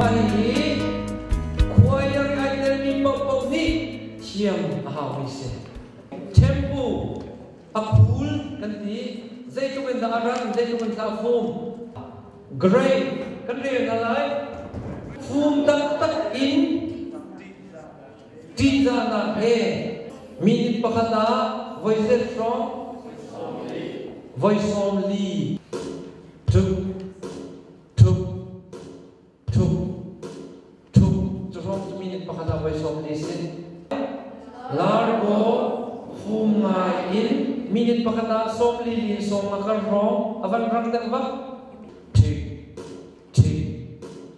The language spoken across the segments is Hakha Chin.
Mah hihi khuaiar ngai telmi paohpaoh nih thiam a haumi si. Tempu a khul kan ti. Zeitluk in dah a ran, zeitluk in dah a fum. Grain kan rel hna lai. Fum taktak in ṭihzahnak he mi pakhat ah voi set hrawng voi sawm li tuk tuk tuk tuk cu hrawng cu minute pakhat ah voi sawm li si largo hum ngai in minute pakhat ah sawm li li sawm a kar hrawng a van rang deuh bak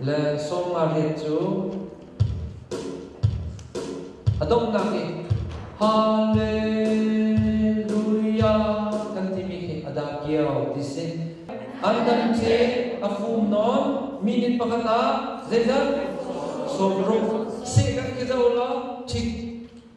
le sawmnariat cu a donghnak nih Hallelujah kan timi khi a da kio ti si. An dam khi a fum non minute pakhat ah zeizat sawm ruk se kan ki zo lo thik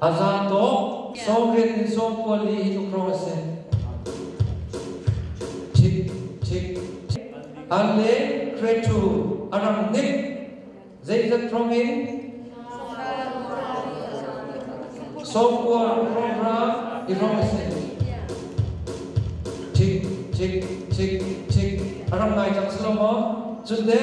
A za tuk. Sawm rian in sawm kual i tlukro a si. Thik, thik, thik. An le cretu a ram nik. Zeizat rom in? Sawm kual rom ra i rom a si. Thik, thik, thik, thik. A ram ngai cang si lo maw? Cun de?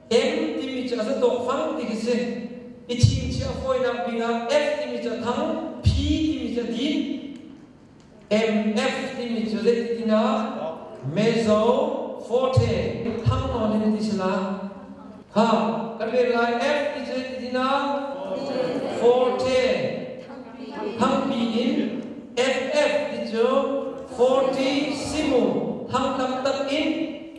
N timi cu a za tawhfang ti khi si. I chingchiah fawinak dingah F timi cu a thang, P timi cu a din, MF timi cu zei ti nak? Mezo forte. Thang nawn in ti sila. Ha, kan rel lai F ti cu zei ti nak? Forte. Thangpi in MF ti cu 40 simu thang tam tak in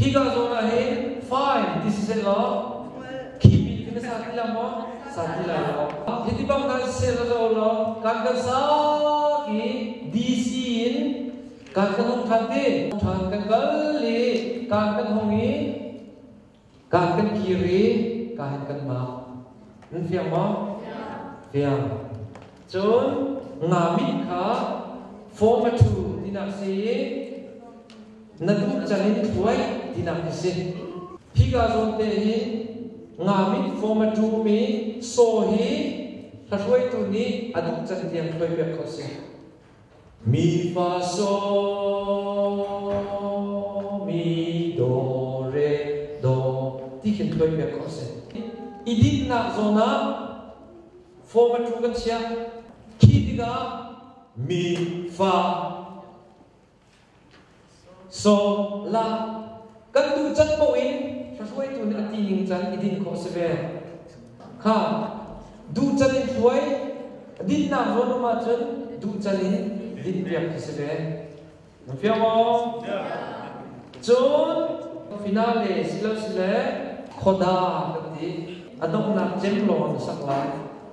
Higa zawn ah hin fine ti si seh law khihmi kan ka sa ti la maw sa ti lai lo hi ti bang kan sel lo law kan kan sa ki DC in kan kan hong than ti than kan kal li kan kan hong i kan kan kiri kan kan ma mun fiang maw fiang cun ngami kha form a thu dinak si na nungcang in hruai tinak a si. Hika zawnte hi ngamit formatrum i saw hi hlohruaitu nih a duh can tiang hruai piak ko si. Mi fa so mi do re do ti khin hruai piak ko si. I dinnak zawn ah formatrum kan chiah. Khi tikah mi fa So la kan duh can poh in hruaitu nih a ti ning can i din khawh si ve kha duh can in hruai dinnak rawn um ahcun duh can in din piak khi si ve na fia maw cun finale silo sile khoda kan ti a donghnak cem lawng na sak lai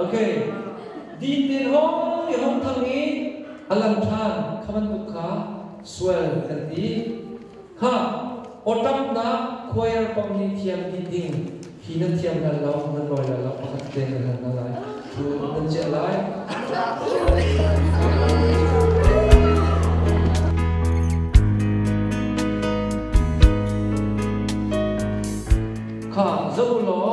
Ok. Din tein hong ti hong thang i a lang ṭhan kha bantuk kha sual kan ti. Ha, awṭamnak khuair pang hi thiam dih ding hi nan thiam hal lo nan lawi lo lo pakhat te nan hal na lai thu nan ceh lai. Kha zo law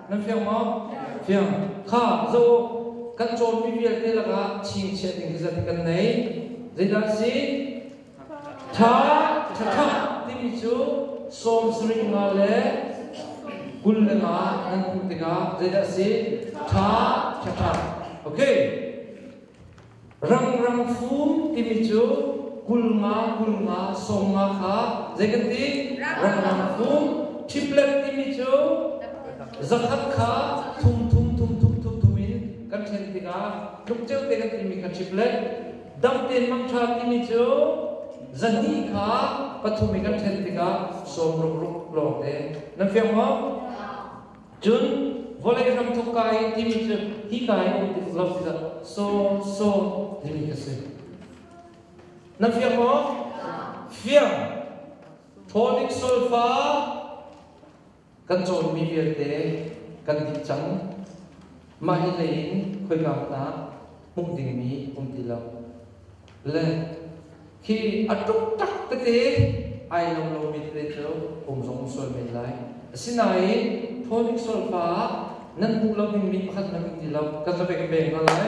Nan fiang maw? Fiang. Kha zoh kan cawnmi vialte lakah chingchiah ding hi zeiti kan nei. Zeidah a si? Tha, thatha timi cu sawm sarih nga le kul le nga nan hmuh tikah zeidah a si? Tha, thatha. Okay. Rangrang fum timi cu kulnga kulnga sawmnga kha zei kan ti? Rangrang fum. Ṭhiplet timi cu zakhat kha thum thum thum thum thum thum in kan ṭhen tikah tluk ceu te kan timi kha ṭhiplet. Dam tein mangṭha timi cu zahnih kha pathum i kan ṭhen tikah sawm rukruk lawng te. Nan fiang maw? Cun vawlei ram thawkka i timi cu hika i um tik lo tikah saw saw timi ka si. Na fiang maw? Fiang. Tonic sulfa kan cawnmi vialte kan dih cang. Mah hi lei in khoika hmanh ah hmuh dingmi um ti lo. le khi a tuk tak tete ai lo lomi tete cu kum zong sual men lai asinain tonic sulfa nan hmuh lo ding mi pakhat na kan ti lo ka ka pek peng hna lai